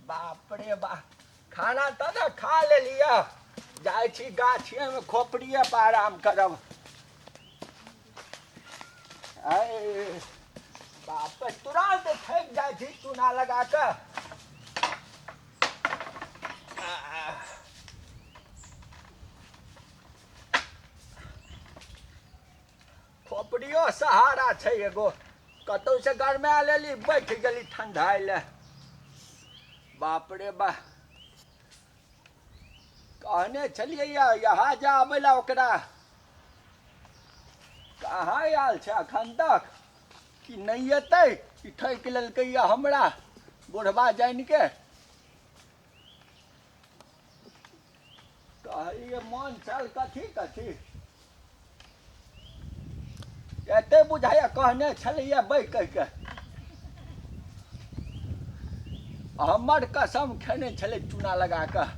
बाप रे बा खाना तऽ ने खा लेलियै जाइ छी गाछिएमे खोपड़िए पर आराम करब आय बाप रे, तुरंत थकि जाइ छी चूना लगा कऽ आह। खोपड़ियो सहारा छै एगो कतौ से गरमा लेली बैठ गेली ठंडाई ले बाप रे बा कहने छलियै या यहाँ जा आबै ला ओकरा कहाँ आयल छै अखन तक कि नहि एतै ई ठकि लेलकै या हमरा बुढ़बा जानि के कहलियै मन छल कथी कथी एते बुझाइया कहने छलियै बैठ कहिके हमर कसम खेने छलै चूना लगा कऽ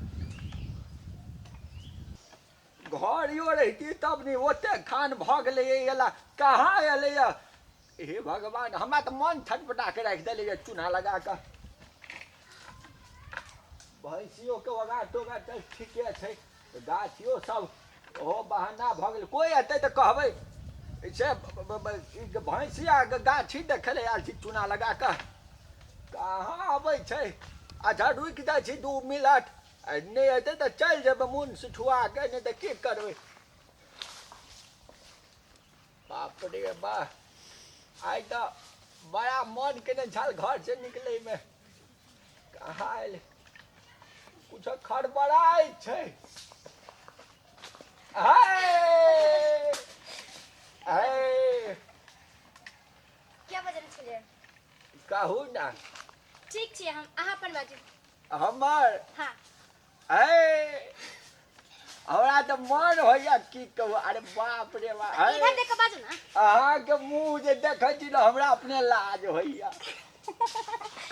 घरियो रहिती तब ने ओते खान भऽ गेलैए एला कहाँ एलैए हे भगवान हमरा तऽ मन छटपटा कऽ राखि देलैए चूना लगा कऽ भैंसियोके ओगा टोगा तऽ ठीके छै गाछियो सब ओहो बहाना भऽ गेल कोइ एतै तऽ कहबै से भैंसिया गाछी देखै लए आयल छी चूना लगा कऽ कहाँ अबै छै अच्छा रुकि जाइ छी दू मिनट आ नहि अयतै तऽ चलि जेबै मोन सिठुआ के नहि तऽ की करबै बाप रे बा आइ तऽ बड़ा मन केने छल घर से निकले में कहा आयल कुछ खड़बड़ाय छै हाय हाय क्या बजल छलियै कहू ना ठीक छै हम अहाँ अपन बाजू हमर हाँ ऐ हमरा तऽ मन होइया की कहू अरे बाप रे बाप ऐ, इधर देख के बाजू ना अहाँके मुंह जे देखै छी ने हमरा अपने लाज होइया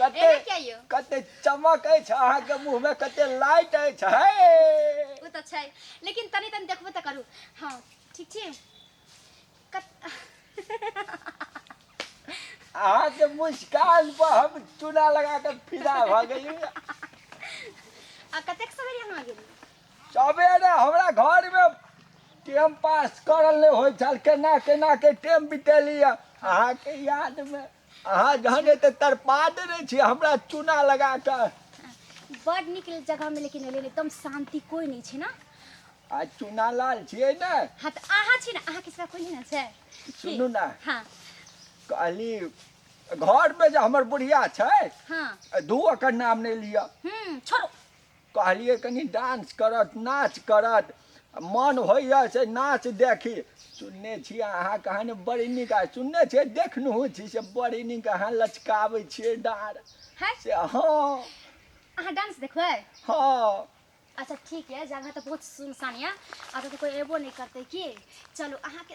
कते एना क्या यो कते चमक अछि अहाँके मुंह में कते लाइट अछि है वो तो छै लेकिन तनी तनी देखबो तो करू हाँ ठीक छी अहाँके मुस्कान पर हम चूना लगा के फिदा भऽ गेली आ कतेक सवेरे अहाँ गेली सबेरे हमरा घर में टाइम पास करल नहि होइ छल केना केना के टाइम बितेली अहाँके याद में अहाँ जहन एते तरपा देने छी हमरा चूना लगा कऽ बड नीक जगह में लेकिन एलियै एकदम शांति कोई नहीं छै ना आ चूना लाल छियै ने हाँ तऽ अहाँ छी ने अहाँके सिवा कोई नहीं ना छै की? सुनू ना हाँ कहली घर में जे हमर बुढ़िया छै हाँ धू ओकर नाम नहि लिअ हम्म छोड़ो कहलियै कनि डांस करत नाच करत मन होइए से नाच देखी सुनने छी अहाँ कहानी बड़ी नीक आ सुनने छियै देखनहु छी से बड़ी नीक अहाँ लचकाबै छियै डार है से हँ अहाँ डांस देखबै हँ अच्छा ठीक है जगह तो बहुत सुनसान है अगर तो कोई एबो नहीं करते की चलो अहाँ के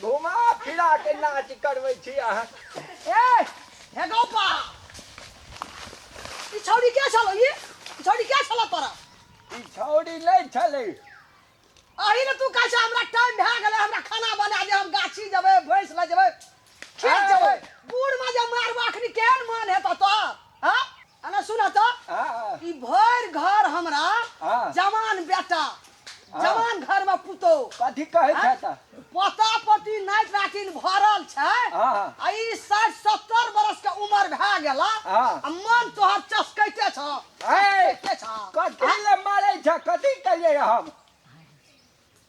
घुमा फिरा के नाच करबै छी अहाँ ए हे गोपा ई छौरी के छलो ई ई छौरी के छलो तोरा ई छौरी नहि छलै अही ने तू कहै छै हमरा टाइम भए गेलै हमरा खाना बना दे हम गाछी जेबै भैंस लए जेबै खेत जेबै बूढ़ में जे मारबो अखनी केहन मन हेतौ तो हाँ अने सुना तो हाँ, हाँ, ई भर घर हमरा हाँ। जवान बेटा जवान घर में पुतो कथी कहै छै तऽ पोता पोती नाति नातिन भरल छै हाँ। आ ई साठि सत्तर बरस के उम्र भए गेला हाँ। आ मन तोहर चसकैते छ ए, चसकैते छ कथी लए मारै छै कथी कहियै हम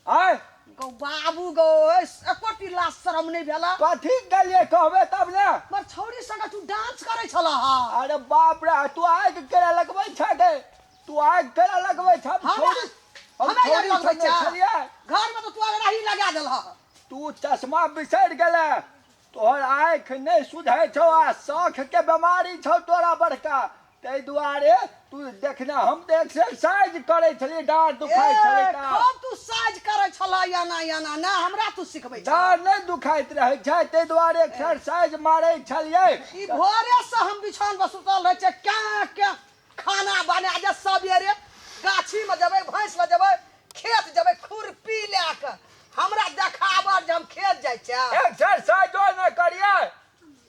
आय गौ बाबू गौ एकोटी लाज शरम नहि भेला कथी गेलियै कहबे तब ने मर छौरी संगे तू डांस करै छला हा अरे बाप रे तू आग केरा लगबै छ गे तू आग केरा लगबै छ हम हमरा- छौरी- हम हमरा छौरी लगबै संगे छ। छलियै घर में तो तू अगराही लगा देल हा तू चश्मा बिसरि गेले तोहर आँखि नहि सुधै छौ आ शौखके बेमारी छौ तोरा बड़का ताहि दुआरे तू देखने हम तऽ एक्सरसाइज करै छलियै डाँर दुखाइ छलै तऽ कब तू साज करै छलऽ एना एना ने हमरा तू सिखबै छलऽ डाँर नहि दुखाइत रहै छै ताहि दुआरे एक्सरसाइज मारै छलियै ई भोरे से हम बिछान पर सुतल रहै छै क्या क्या खाना बना जे सबेरे गाछी में जेबै भैंस ल जेबै खेत जेबै खुरपी लए क हमरा देखाबड़ जे हम खेत जाइ छै एक्सरसाइजो ने करिए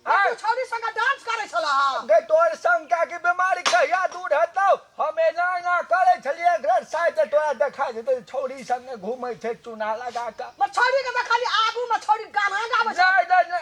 आय तू छौरी संगे डांस करै छला ह गै तोहर संग कए के बीमारी कहिया दूर हेतौ हम एना एना करै छलिए एक्सरसाइज त तोरा देखा जेतौ जे छौरी संगे घूमै छै चूना लगा क मर छौरी के देखलिए आगू में छौरी गाना गाबै छै नै नै नै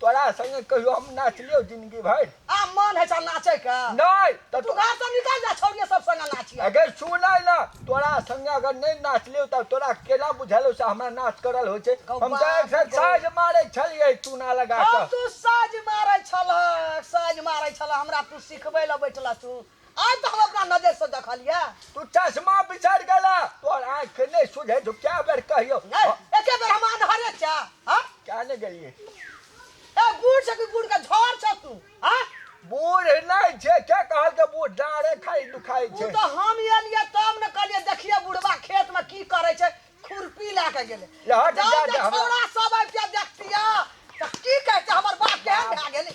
तोरा संगे कहियो हम नाच लियो जिंदगी भर आ मन है चल नाचे का नहीं तो तू घर से निकल जा छोड़िए सब संग नाची अगर सुन है ना तोरा संगे अगर नहीं नाच लियो तो तोरा केला बुझल से हमरा नाच करल हो छे हम तो एक साथ साज मारे छलिए तू ना लगा तू साज मारे छल साज मारे छल हमरा तू सिखबे ल बैठला तू आइ तऽ हम अपना नजरसँ देखलियै तू चश्मा बिछड़ गेला तोहर आँख के नहीं सुझे जो क्या बेर कहियो नहि एके बेर हम अन्हरे छै हाँ? क्या ने गेलिए ए बूढ़ छै कि बूढ़ के झड़ छै तू हाँ? बूढ़ नहीं छे के कहल के बूढ़ डारे खाई दुखाई उ छे तऽ हम एलियै तब ने कहलियै देखियै बुढ़वा खेत में की करे छै खुरपी लए के गेलै लहट जब जा जे दे हमरा। छौड़ा सब आबि के देखतिया तऽ की कहते हमर बाप केहन भए गेलै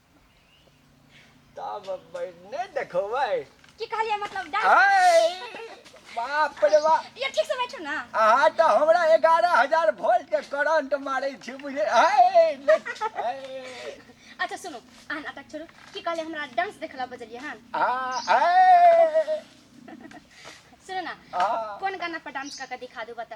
तब अब नहीं देखो भाई की कहलिए मतलब डांस हाय बाप रे बाप ये ठीक से बैठो ना अहाँ तो हमरा एगारह हजार वोल्ट के करंट मारे छी बुझे हाय ले- हाय। अच्छा सुनो आ नाटक छोड़ो की कहलिए हमरा डांस देखला बजलिए हां आ, हाय। सुनो ना आ। कौन गाना पर डांस करके दिखा दो बता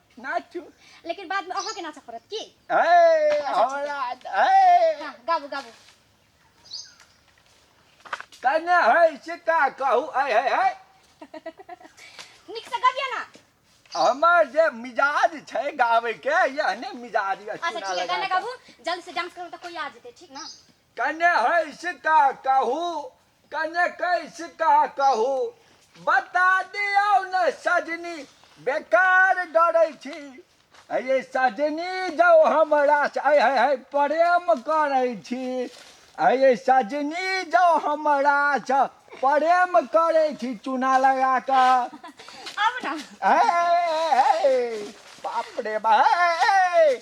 नाचू लेकिन बाद में अहाँ के नाचा पड़त की ए हमरा ए हाँ गाबू गाबू कने है से का कहू ए है है निक से गाबिया ना हमर जे मिजाज छै गाबै के यहने मिजाज अच्छा ठीक है गाना गाबू जल्दी से डांस करो तो कोई आ जेते ठीक ना कने हँस का कहू कने कैस का कहू बता दियौ ने सजनी बेकार डरै छी अये सजनी जौ हमरा से आय हाय हाय प्रेम करै छी अये सजनी जौ हमरा से प्रेम करै छी चूना लगा कऽ अब ना ए, ए, ए, ए, बाप रे बा ए, ए, ए,